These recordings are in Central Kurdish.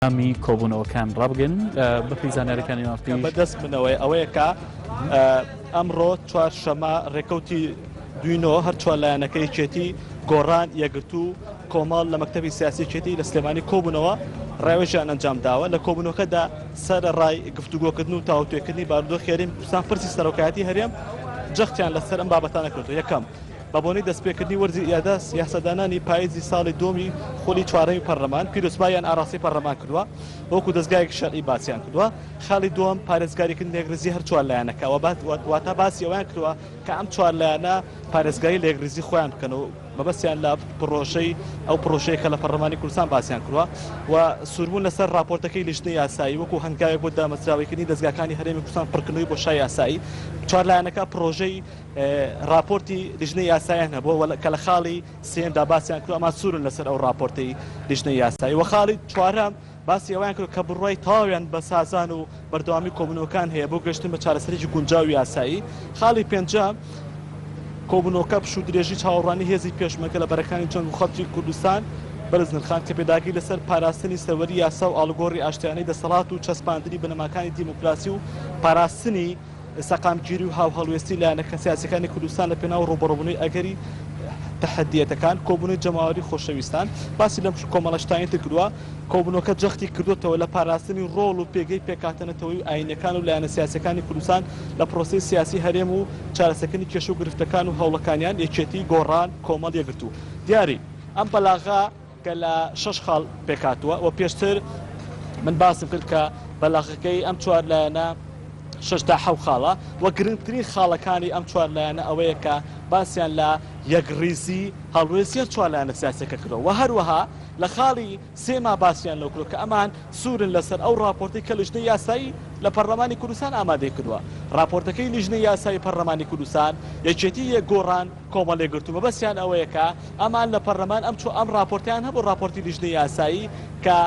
ئەندامی کۆبوونەوەکان ڕابگەن بەپێی زانیاریەکانی مافی بەدەست منەوەی ئەوەیە کە ئەمڕۆ چوار شەمە ڕێکەوتی دوینۆ هەرچوار لایەنەکەی چێتی گۆڕان یەگرتو کۆمەڵ لە مەکتتەبی سیاسی چێتی لە سلێمانی کۆبوونەوە ڕێوەژیان ئەنجام داوە لە کۆبوونەکەدا سەر ڕای گفتوگۆکردن و تاوتێکردنی باردۆ خێرین کوردستان پرسی سەرۆکایەتی هەرێم جەختیان لەسەر ئەم بابەتانە کردو یەکەم بە بۆنەی دەستپێکردنی وەرزی ئیادە یاسادانانی پاییزی ساڵی دووەمی خولی چوارەمی پەرلەمان، پیرۆزباییان ئاراستەی پەرلەمان کردووە و وەکوو دەزگایەکی شەرعی باسیان کردووە. خاڵی دووەم، پارێزگاریکردنی لێکدرێزی هەر چوار لایەنەکە و واتە باسی ئەوەیان کردووە کە ئەم چوار لایەنە پارێزگاری لێکدرێزی خۆیان بکەن و مەبەستیان لە پڕۆژەی ئەو پڕۆژەیە کە لە پەرلەمانی کوردستان باسیان کردووە و سووربوون لەسەر ڕاپۆرتەکەی لیژنەی یاسایی وەکوو هەنگاوێک بۆ دامەزراوەیکردنی دەزگاکانی هەرێمی کوردستان پڕکردنەوەی بۆشای یاسایی چوار لایەنەکە پڕۆژەی ڕاپۆرتی لیژنەی یاسایان هەبووە و کە لە خاڵی سێیەمدا باسیان کردووە، ئەمە سوورن لەسەر ئەو ڕاپۆرتەی لیژنەی یاسایی و خاڵی چوارەم باسی ئەوەیان کردووە کە بڕوای تەواویان بە سازان و بەردەوامی کۆبوونەوەکان هەیە بۆ گەشتن بە چارەسەرێکی گونجاو و یاسایی. خاڵی پێنجەم کۆبوونەوەکە پشوودرێژی چاوەڕوانی هێزی پێشمەرگە لە بەرەکانی جەنگ و خەڵکی کوردستان بەرز نرخاند کە پێداگری لەسەر پاراستنی سەروەری یاسا و ئاڵوگۆڕی ئاشتیانەی دەسەڵات و چەسپاندنی بنەماکانی دیموکراسی و پاراستنی سەقامگیری و هاوهەڵوێستی لایەنە سیاسیەکانی کوردستان لە پێناو ڕووبەڕووبونەوەی ئەگەری تەحەدیەتەکان، کۆبونەوەی جەماوەری خۆشەویستان باسی لەم کۆمەڵە شتانی تر کردوە، کۆبونەوەکە جەختی کردۆتەوە لە پاراستنی ڕۆڵ و پێگەی پێکهاتە نەتەوەی و ئاینیەکان و لایەنە سیاسیەکانی کوردستان لە پرۆسەی سیاسی هەرێم و چارەسەکردنی کێشە و گرفتەکان و هەوڵەکانیان، یەکێتی، گۆڕان، کۆمەڵ، یەکگرتوو. دیاری ئەم بەلاغە. کە لە شەش خاڵ پێکهاتووە و پێشتر من باسم کرد کە بەلاغەکەی ئەم چوار لایەنە شەش تا حەوت خاڵە و گرنگترین خاڵەکانی ئەم چوار لایەنە ئەوەیە کە باسیان لە یەکڕیزی هەڵوێستی ئەم چوار لایەنە سیاسییەکە کردووە و هەروەها لە خاڵی سێما باسیان لەوە کردووە کە ئەمان سوورن لەسەر ئەو ڕاپۆرتەی کە لیژنەی یاسایی لە پەرلەمانی کوردستان ئامادەی کردووە. ڕاپۆرتەکەی لیژنەی یاسایی پەرلەمانی کوردستان، یەکێتی، یەکگۆڕان، کۆمەڵی گرتوو مەبەستیان ئەوەیە کە ئەمان لە پەرلەمان ئەم چو ئەم ڕاپۆرتەیان هەبوو ڕاپۆرتی لیژنەی یاسایی کە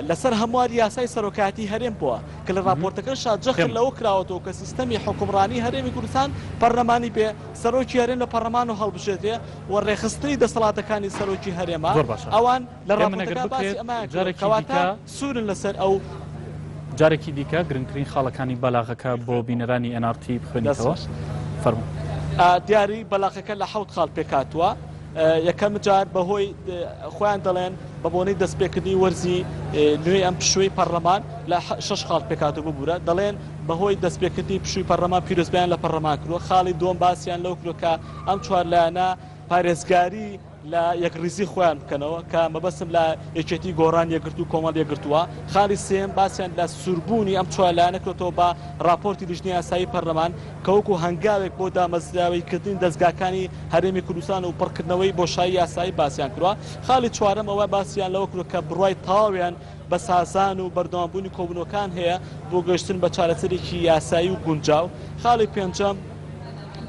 لەسەر هەموار یاسای سەرۆکایەتی هەرێم بووە کە لە ڕاپۆرتەکە شاد جەخت لەوە کراوەەوە کە سیستەمی حکومڕانی هەرێمی کوردستان پەرلەمانی بێ سەرۆکی هەرێم لە پەرلەمان و هەڵبژێتێ و ڕێخستنی دەسەڵاتەکانی سەرۆکی هەرێمە ئەوان لە ڕاپۆرتەکە باسی ئەمەیان کردووە کە واتە سوورن لەسەر ئەو. جارێکی دیکە گرنگترین خاڵەکانی بەلاغەکە بۆ بینەرانی ئێن ئاڕ تی بخوێنیتەوە. فەرموو. دیاری بەلاغەکە لە حەوت خاڵ پێکهاتووە. یەکەم جار بەهۆی خۆیان دەڵێن بە بۆنەی دەستپێکردنی وەرزی نوێی ئەم پشووی پەڕلەمان لە شەش خاڵ پێکهاتوو ببوورە دەڵێن بەهۆی دەستپێکردنی پشووی پەڕلەمان پیرۆزبایان لە پەڕلەمان کردووە خاڵی دووەم باسیان لەو کردووە کە ئەم چوار لایەنە پارێزگاری لە یەکڕیزی خۆیان بکەنەوە کە مەبەستم لە یەکێتی، گۆڕان، یەکگرتوو، کۆمەڵ، یەکگرتووە. خاڵی سێیەم باسیان لە سووربوونی ئەم چوار لایەنە کردووەتەوە بە ڕاپۆرتی لیژنەی ئاسایی پەرلەمان کە وەکوو هەنگاوێک بۆ دامەزراوەییکردنی دەزگاکانی هەرێمی کوردستان و پڕکردنەوەی بۆشایی یاسایی باسیان کردووە. خاڵی چوارەم ئەوە باسیان لەوە کردووە کە بڕوای تەواویان بەسازان و بەردەوامبوونی کۆبوونەوەکان هەیە بۆ گەیشتن بە چارەسەرێکی یاسایی و گونجاو. خاڵی پێنجەم،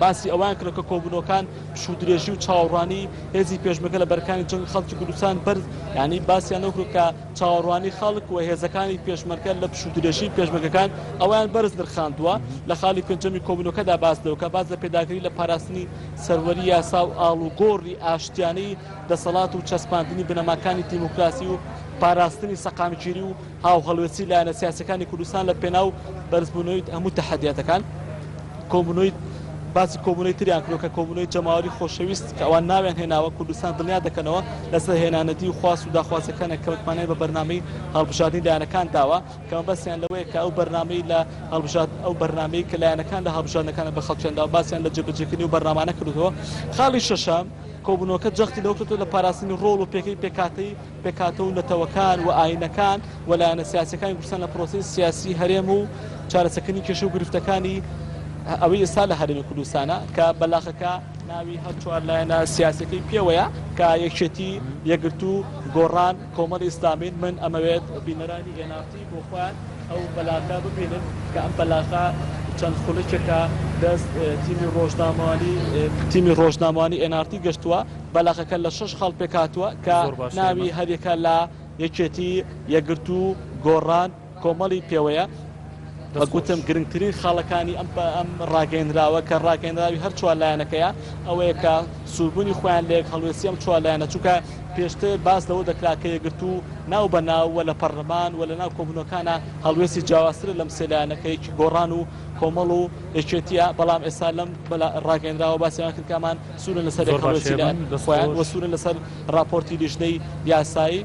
باسی ئەوەیان کرد کە کۆبوونەوەکان پشوودرێژی و چاوەڕوانی هێزی پێشمەرگە لە بەرەکانی جەنگ خەڵکی کوردستان بەرز یانی باسیان ئەو کرد کە چاوەڕوانی خەڵک و هێزەکانی پێشمەرگە لە پشوودرێژی پێشمەرگەکان ئەویان بەرز نرخاندووە لە خاڵی پێنجەمی کۆبوونەوەکەدا باس لەوە کە باس لە پێداگری لە پاراستنی سەروەری یاسا و ئاڵوگۆڕی ئاشتیانەی دەسەڵات و چەسپاندنی بنەماکانی دیموکراسی و پاراستنی سەقامگیری و هاوهەڵوێستی لایەنە سیاسیەکانی کوردستان لە پێناو بەرزبوونەوەی هەموو تەحەدیاتەکان کۆبوونەوەی باسی کۆبوونەوەی تریان کرد کە کۆبوونەوەی جەماوەری خۆشەویست کە ئەوان ناویان هێناوە کوردستان دڵنیا دەکەنەوە لەسەر هێنانەدی و خواست و داخوازەکانە کە متمانەیان بە بەرنامەی هەڵبژاردنی لایەنەکان داوە کە مەبەستیان لەوەیە کە ئەو بەرنامەی لە هەڵبژارد ئەو بەرنامەی کە لایەنەکان لە هەڵبژاردنەکانە بە خەڵکیان داوە باسیان لە جێبەجێکردنی و بەرنامانە کردووە خاڵی شەشەم کۆبوونەوەکە جەختی لەوە کردەوە لە پاراستنی ڕۆڵ و پێگەی پێکهاتەی پێکهاتە و نەتەوەکان و ئایینەکان و لایەنە سیاسییەکانی کوردستان لە پرۆسەی سیاسیی هەرێم و چارەسەکردنی کێشە و گرفتەکانی ئەوەی ئێستا لە هەرێمی کوردستانە کە بەلاخەکە ناوی هەر چوار لایەنە سیاسییەکەی پێوەیە کە یەکێتی، یەکگرتوو، گۆڕان، کۆمەڵی ئیسلامین، من، ئەمەوێت بینەرانی nrt. بۆ خۆیان ئەو بەلاغە ببینن کە ئەم بەلاغە چەند خولەکێکە دەست تیمی ڕۆژنامەوانی تیمی ڕۆژنامەوانی ئێن ئاڕ تی گەشتووە بەلاغەکە لە شەش خاڵ پێکهاتووە کە ناوی هەریەکە لە یەکێتی یەکگرتوو گۆڕان کۆمەڵی پێوەیە وەکوتم گرنگترین خاڵەکانی ئەم ڕاگەیەنراوە کە ڕاگەیەنراوی هەر چوار لایەنەکەیە ئەوەیە کە سووربوونی خۆیان لە یەکهەڵوێستی ئەم چوار لایەنە، چونکە پێشتر باس لەوە دەکرا کە یەکگرتوو ناو بە ناو و لە پەڕلەمان و لە ناو کۆبوونەوەکانا هەڵوێستی جیاوازترە لەم سێ لایەنە کە یەکی گۆڕان و کۆمەڵ و یەکێتییە، بەڵام ئێستا لەم ڕاگەیەنراوە باسی ئەوە کرد کە ئەمان سوورن لەسەر یەکهەڵوێستی لایەن خۆیان و سوورن لەسەر ڕاپۆرتی لیژنەی یاسایی.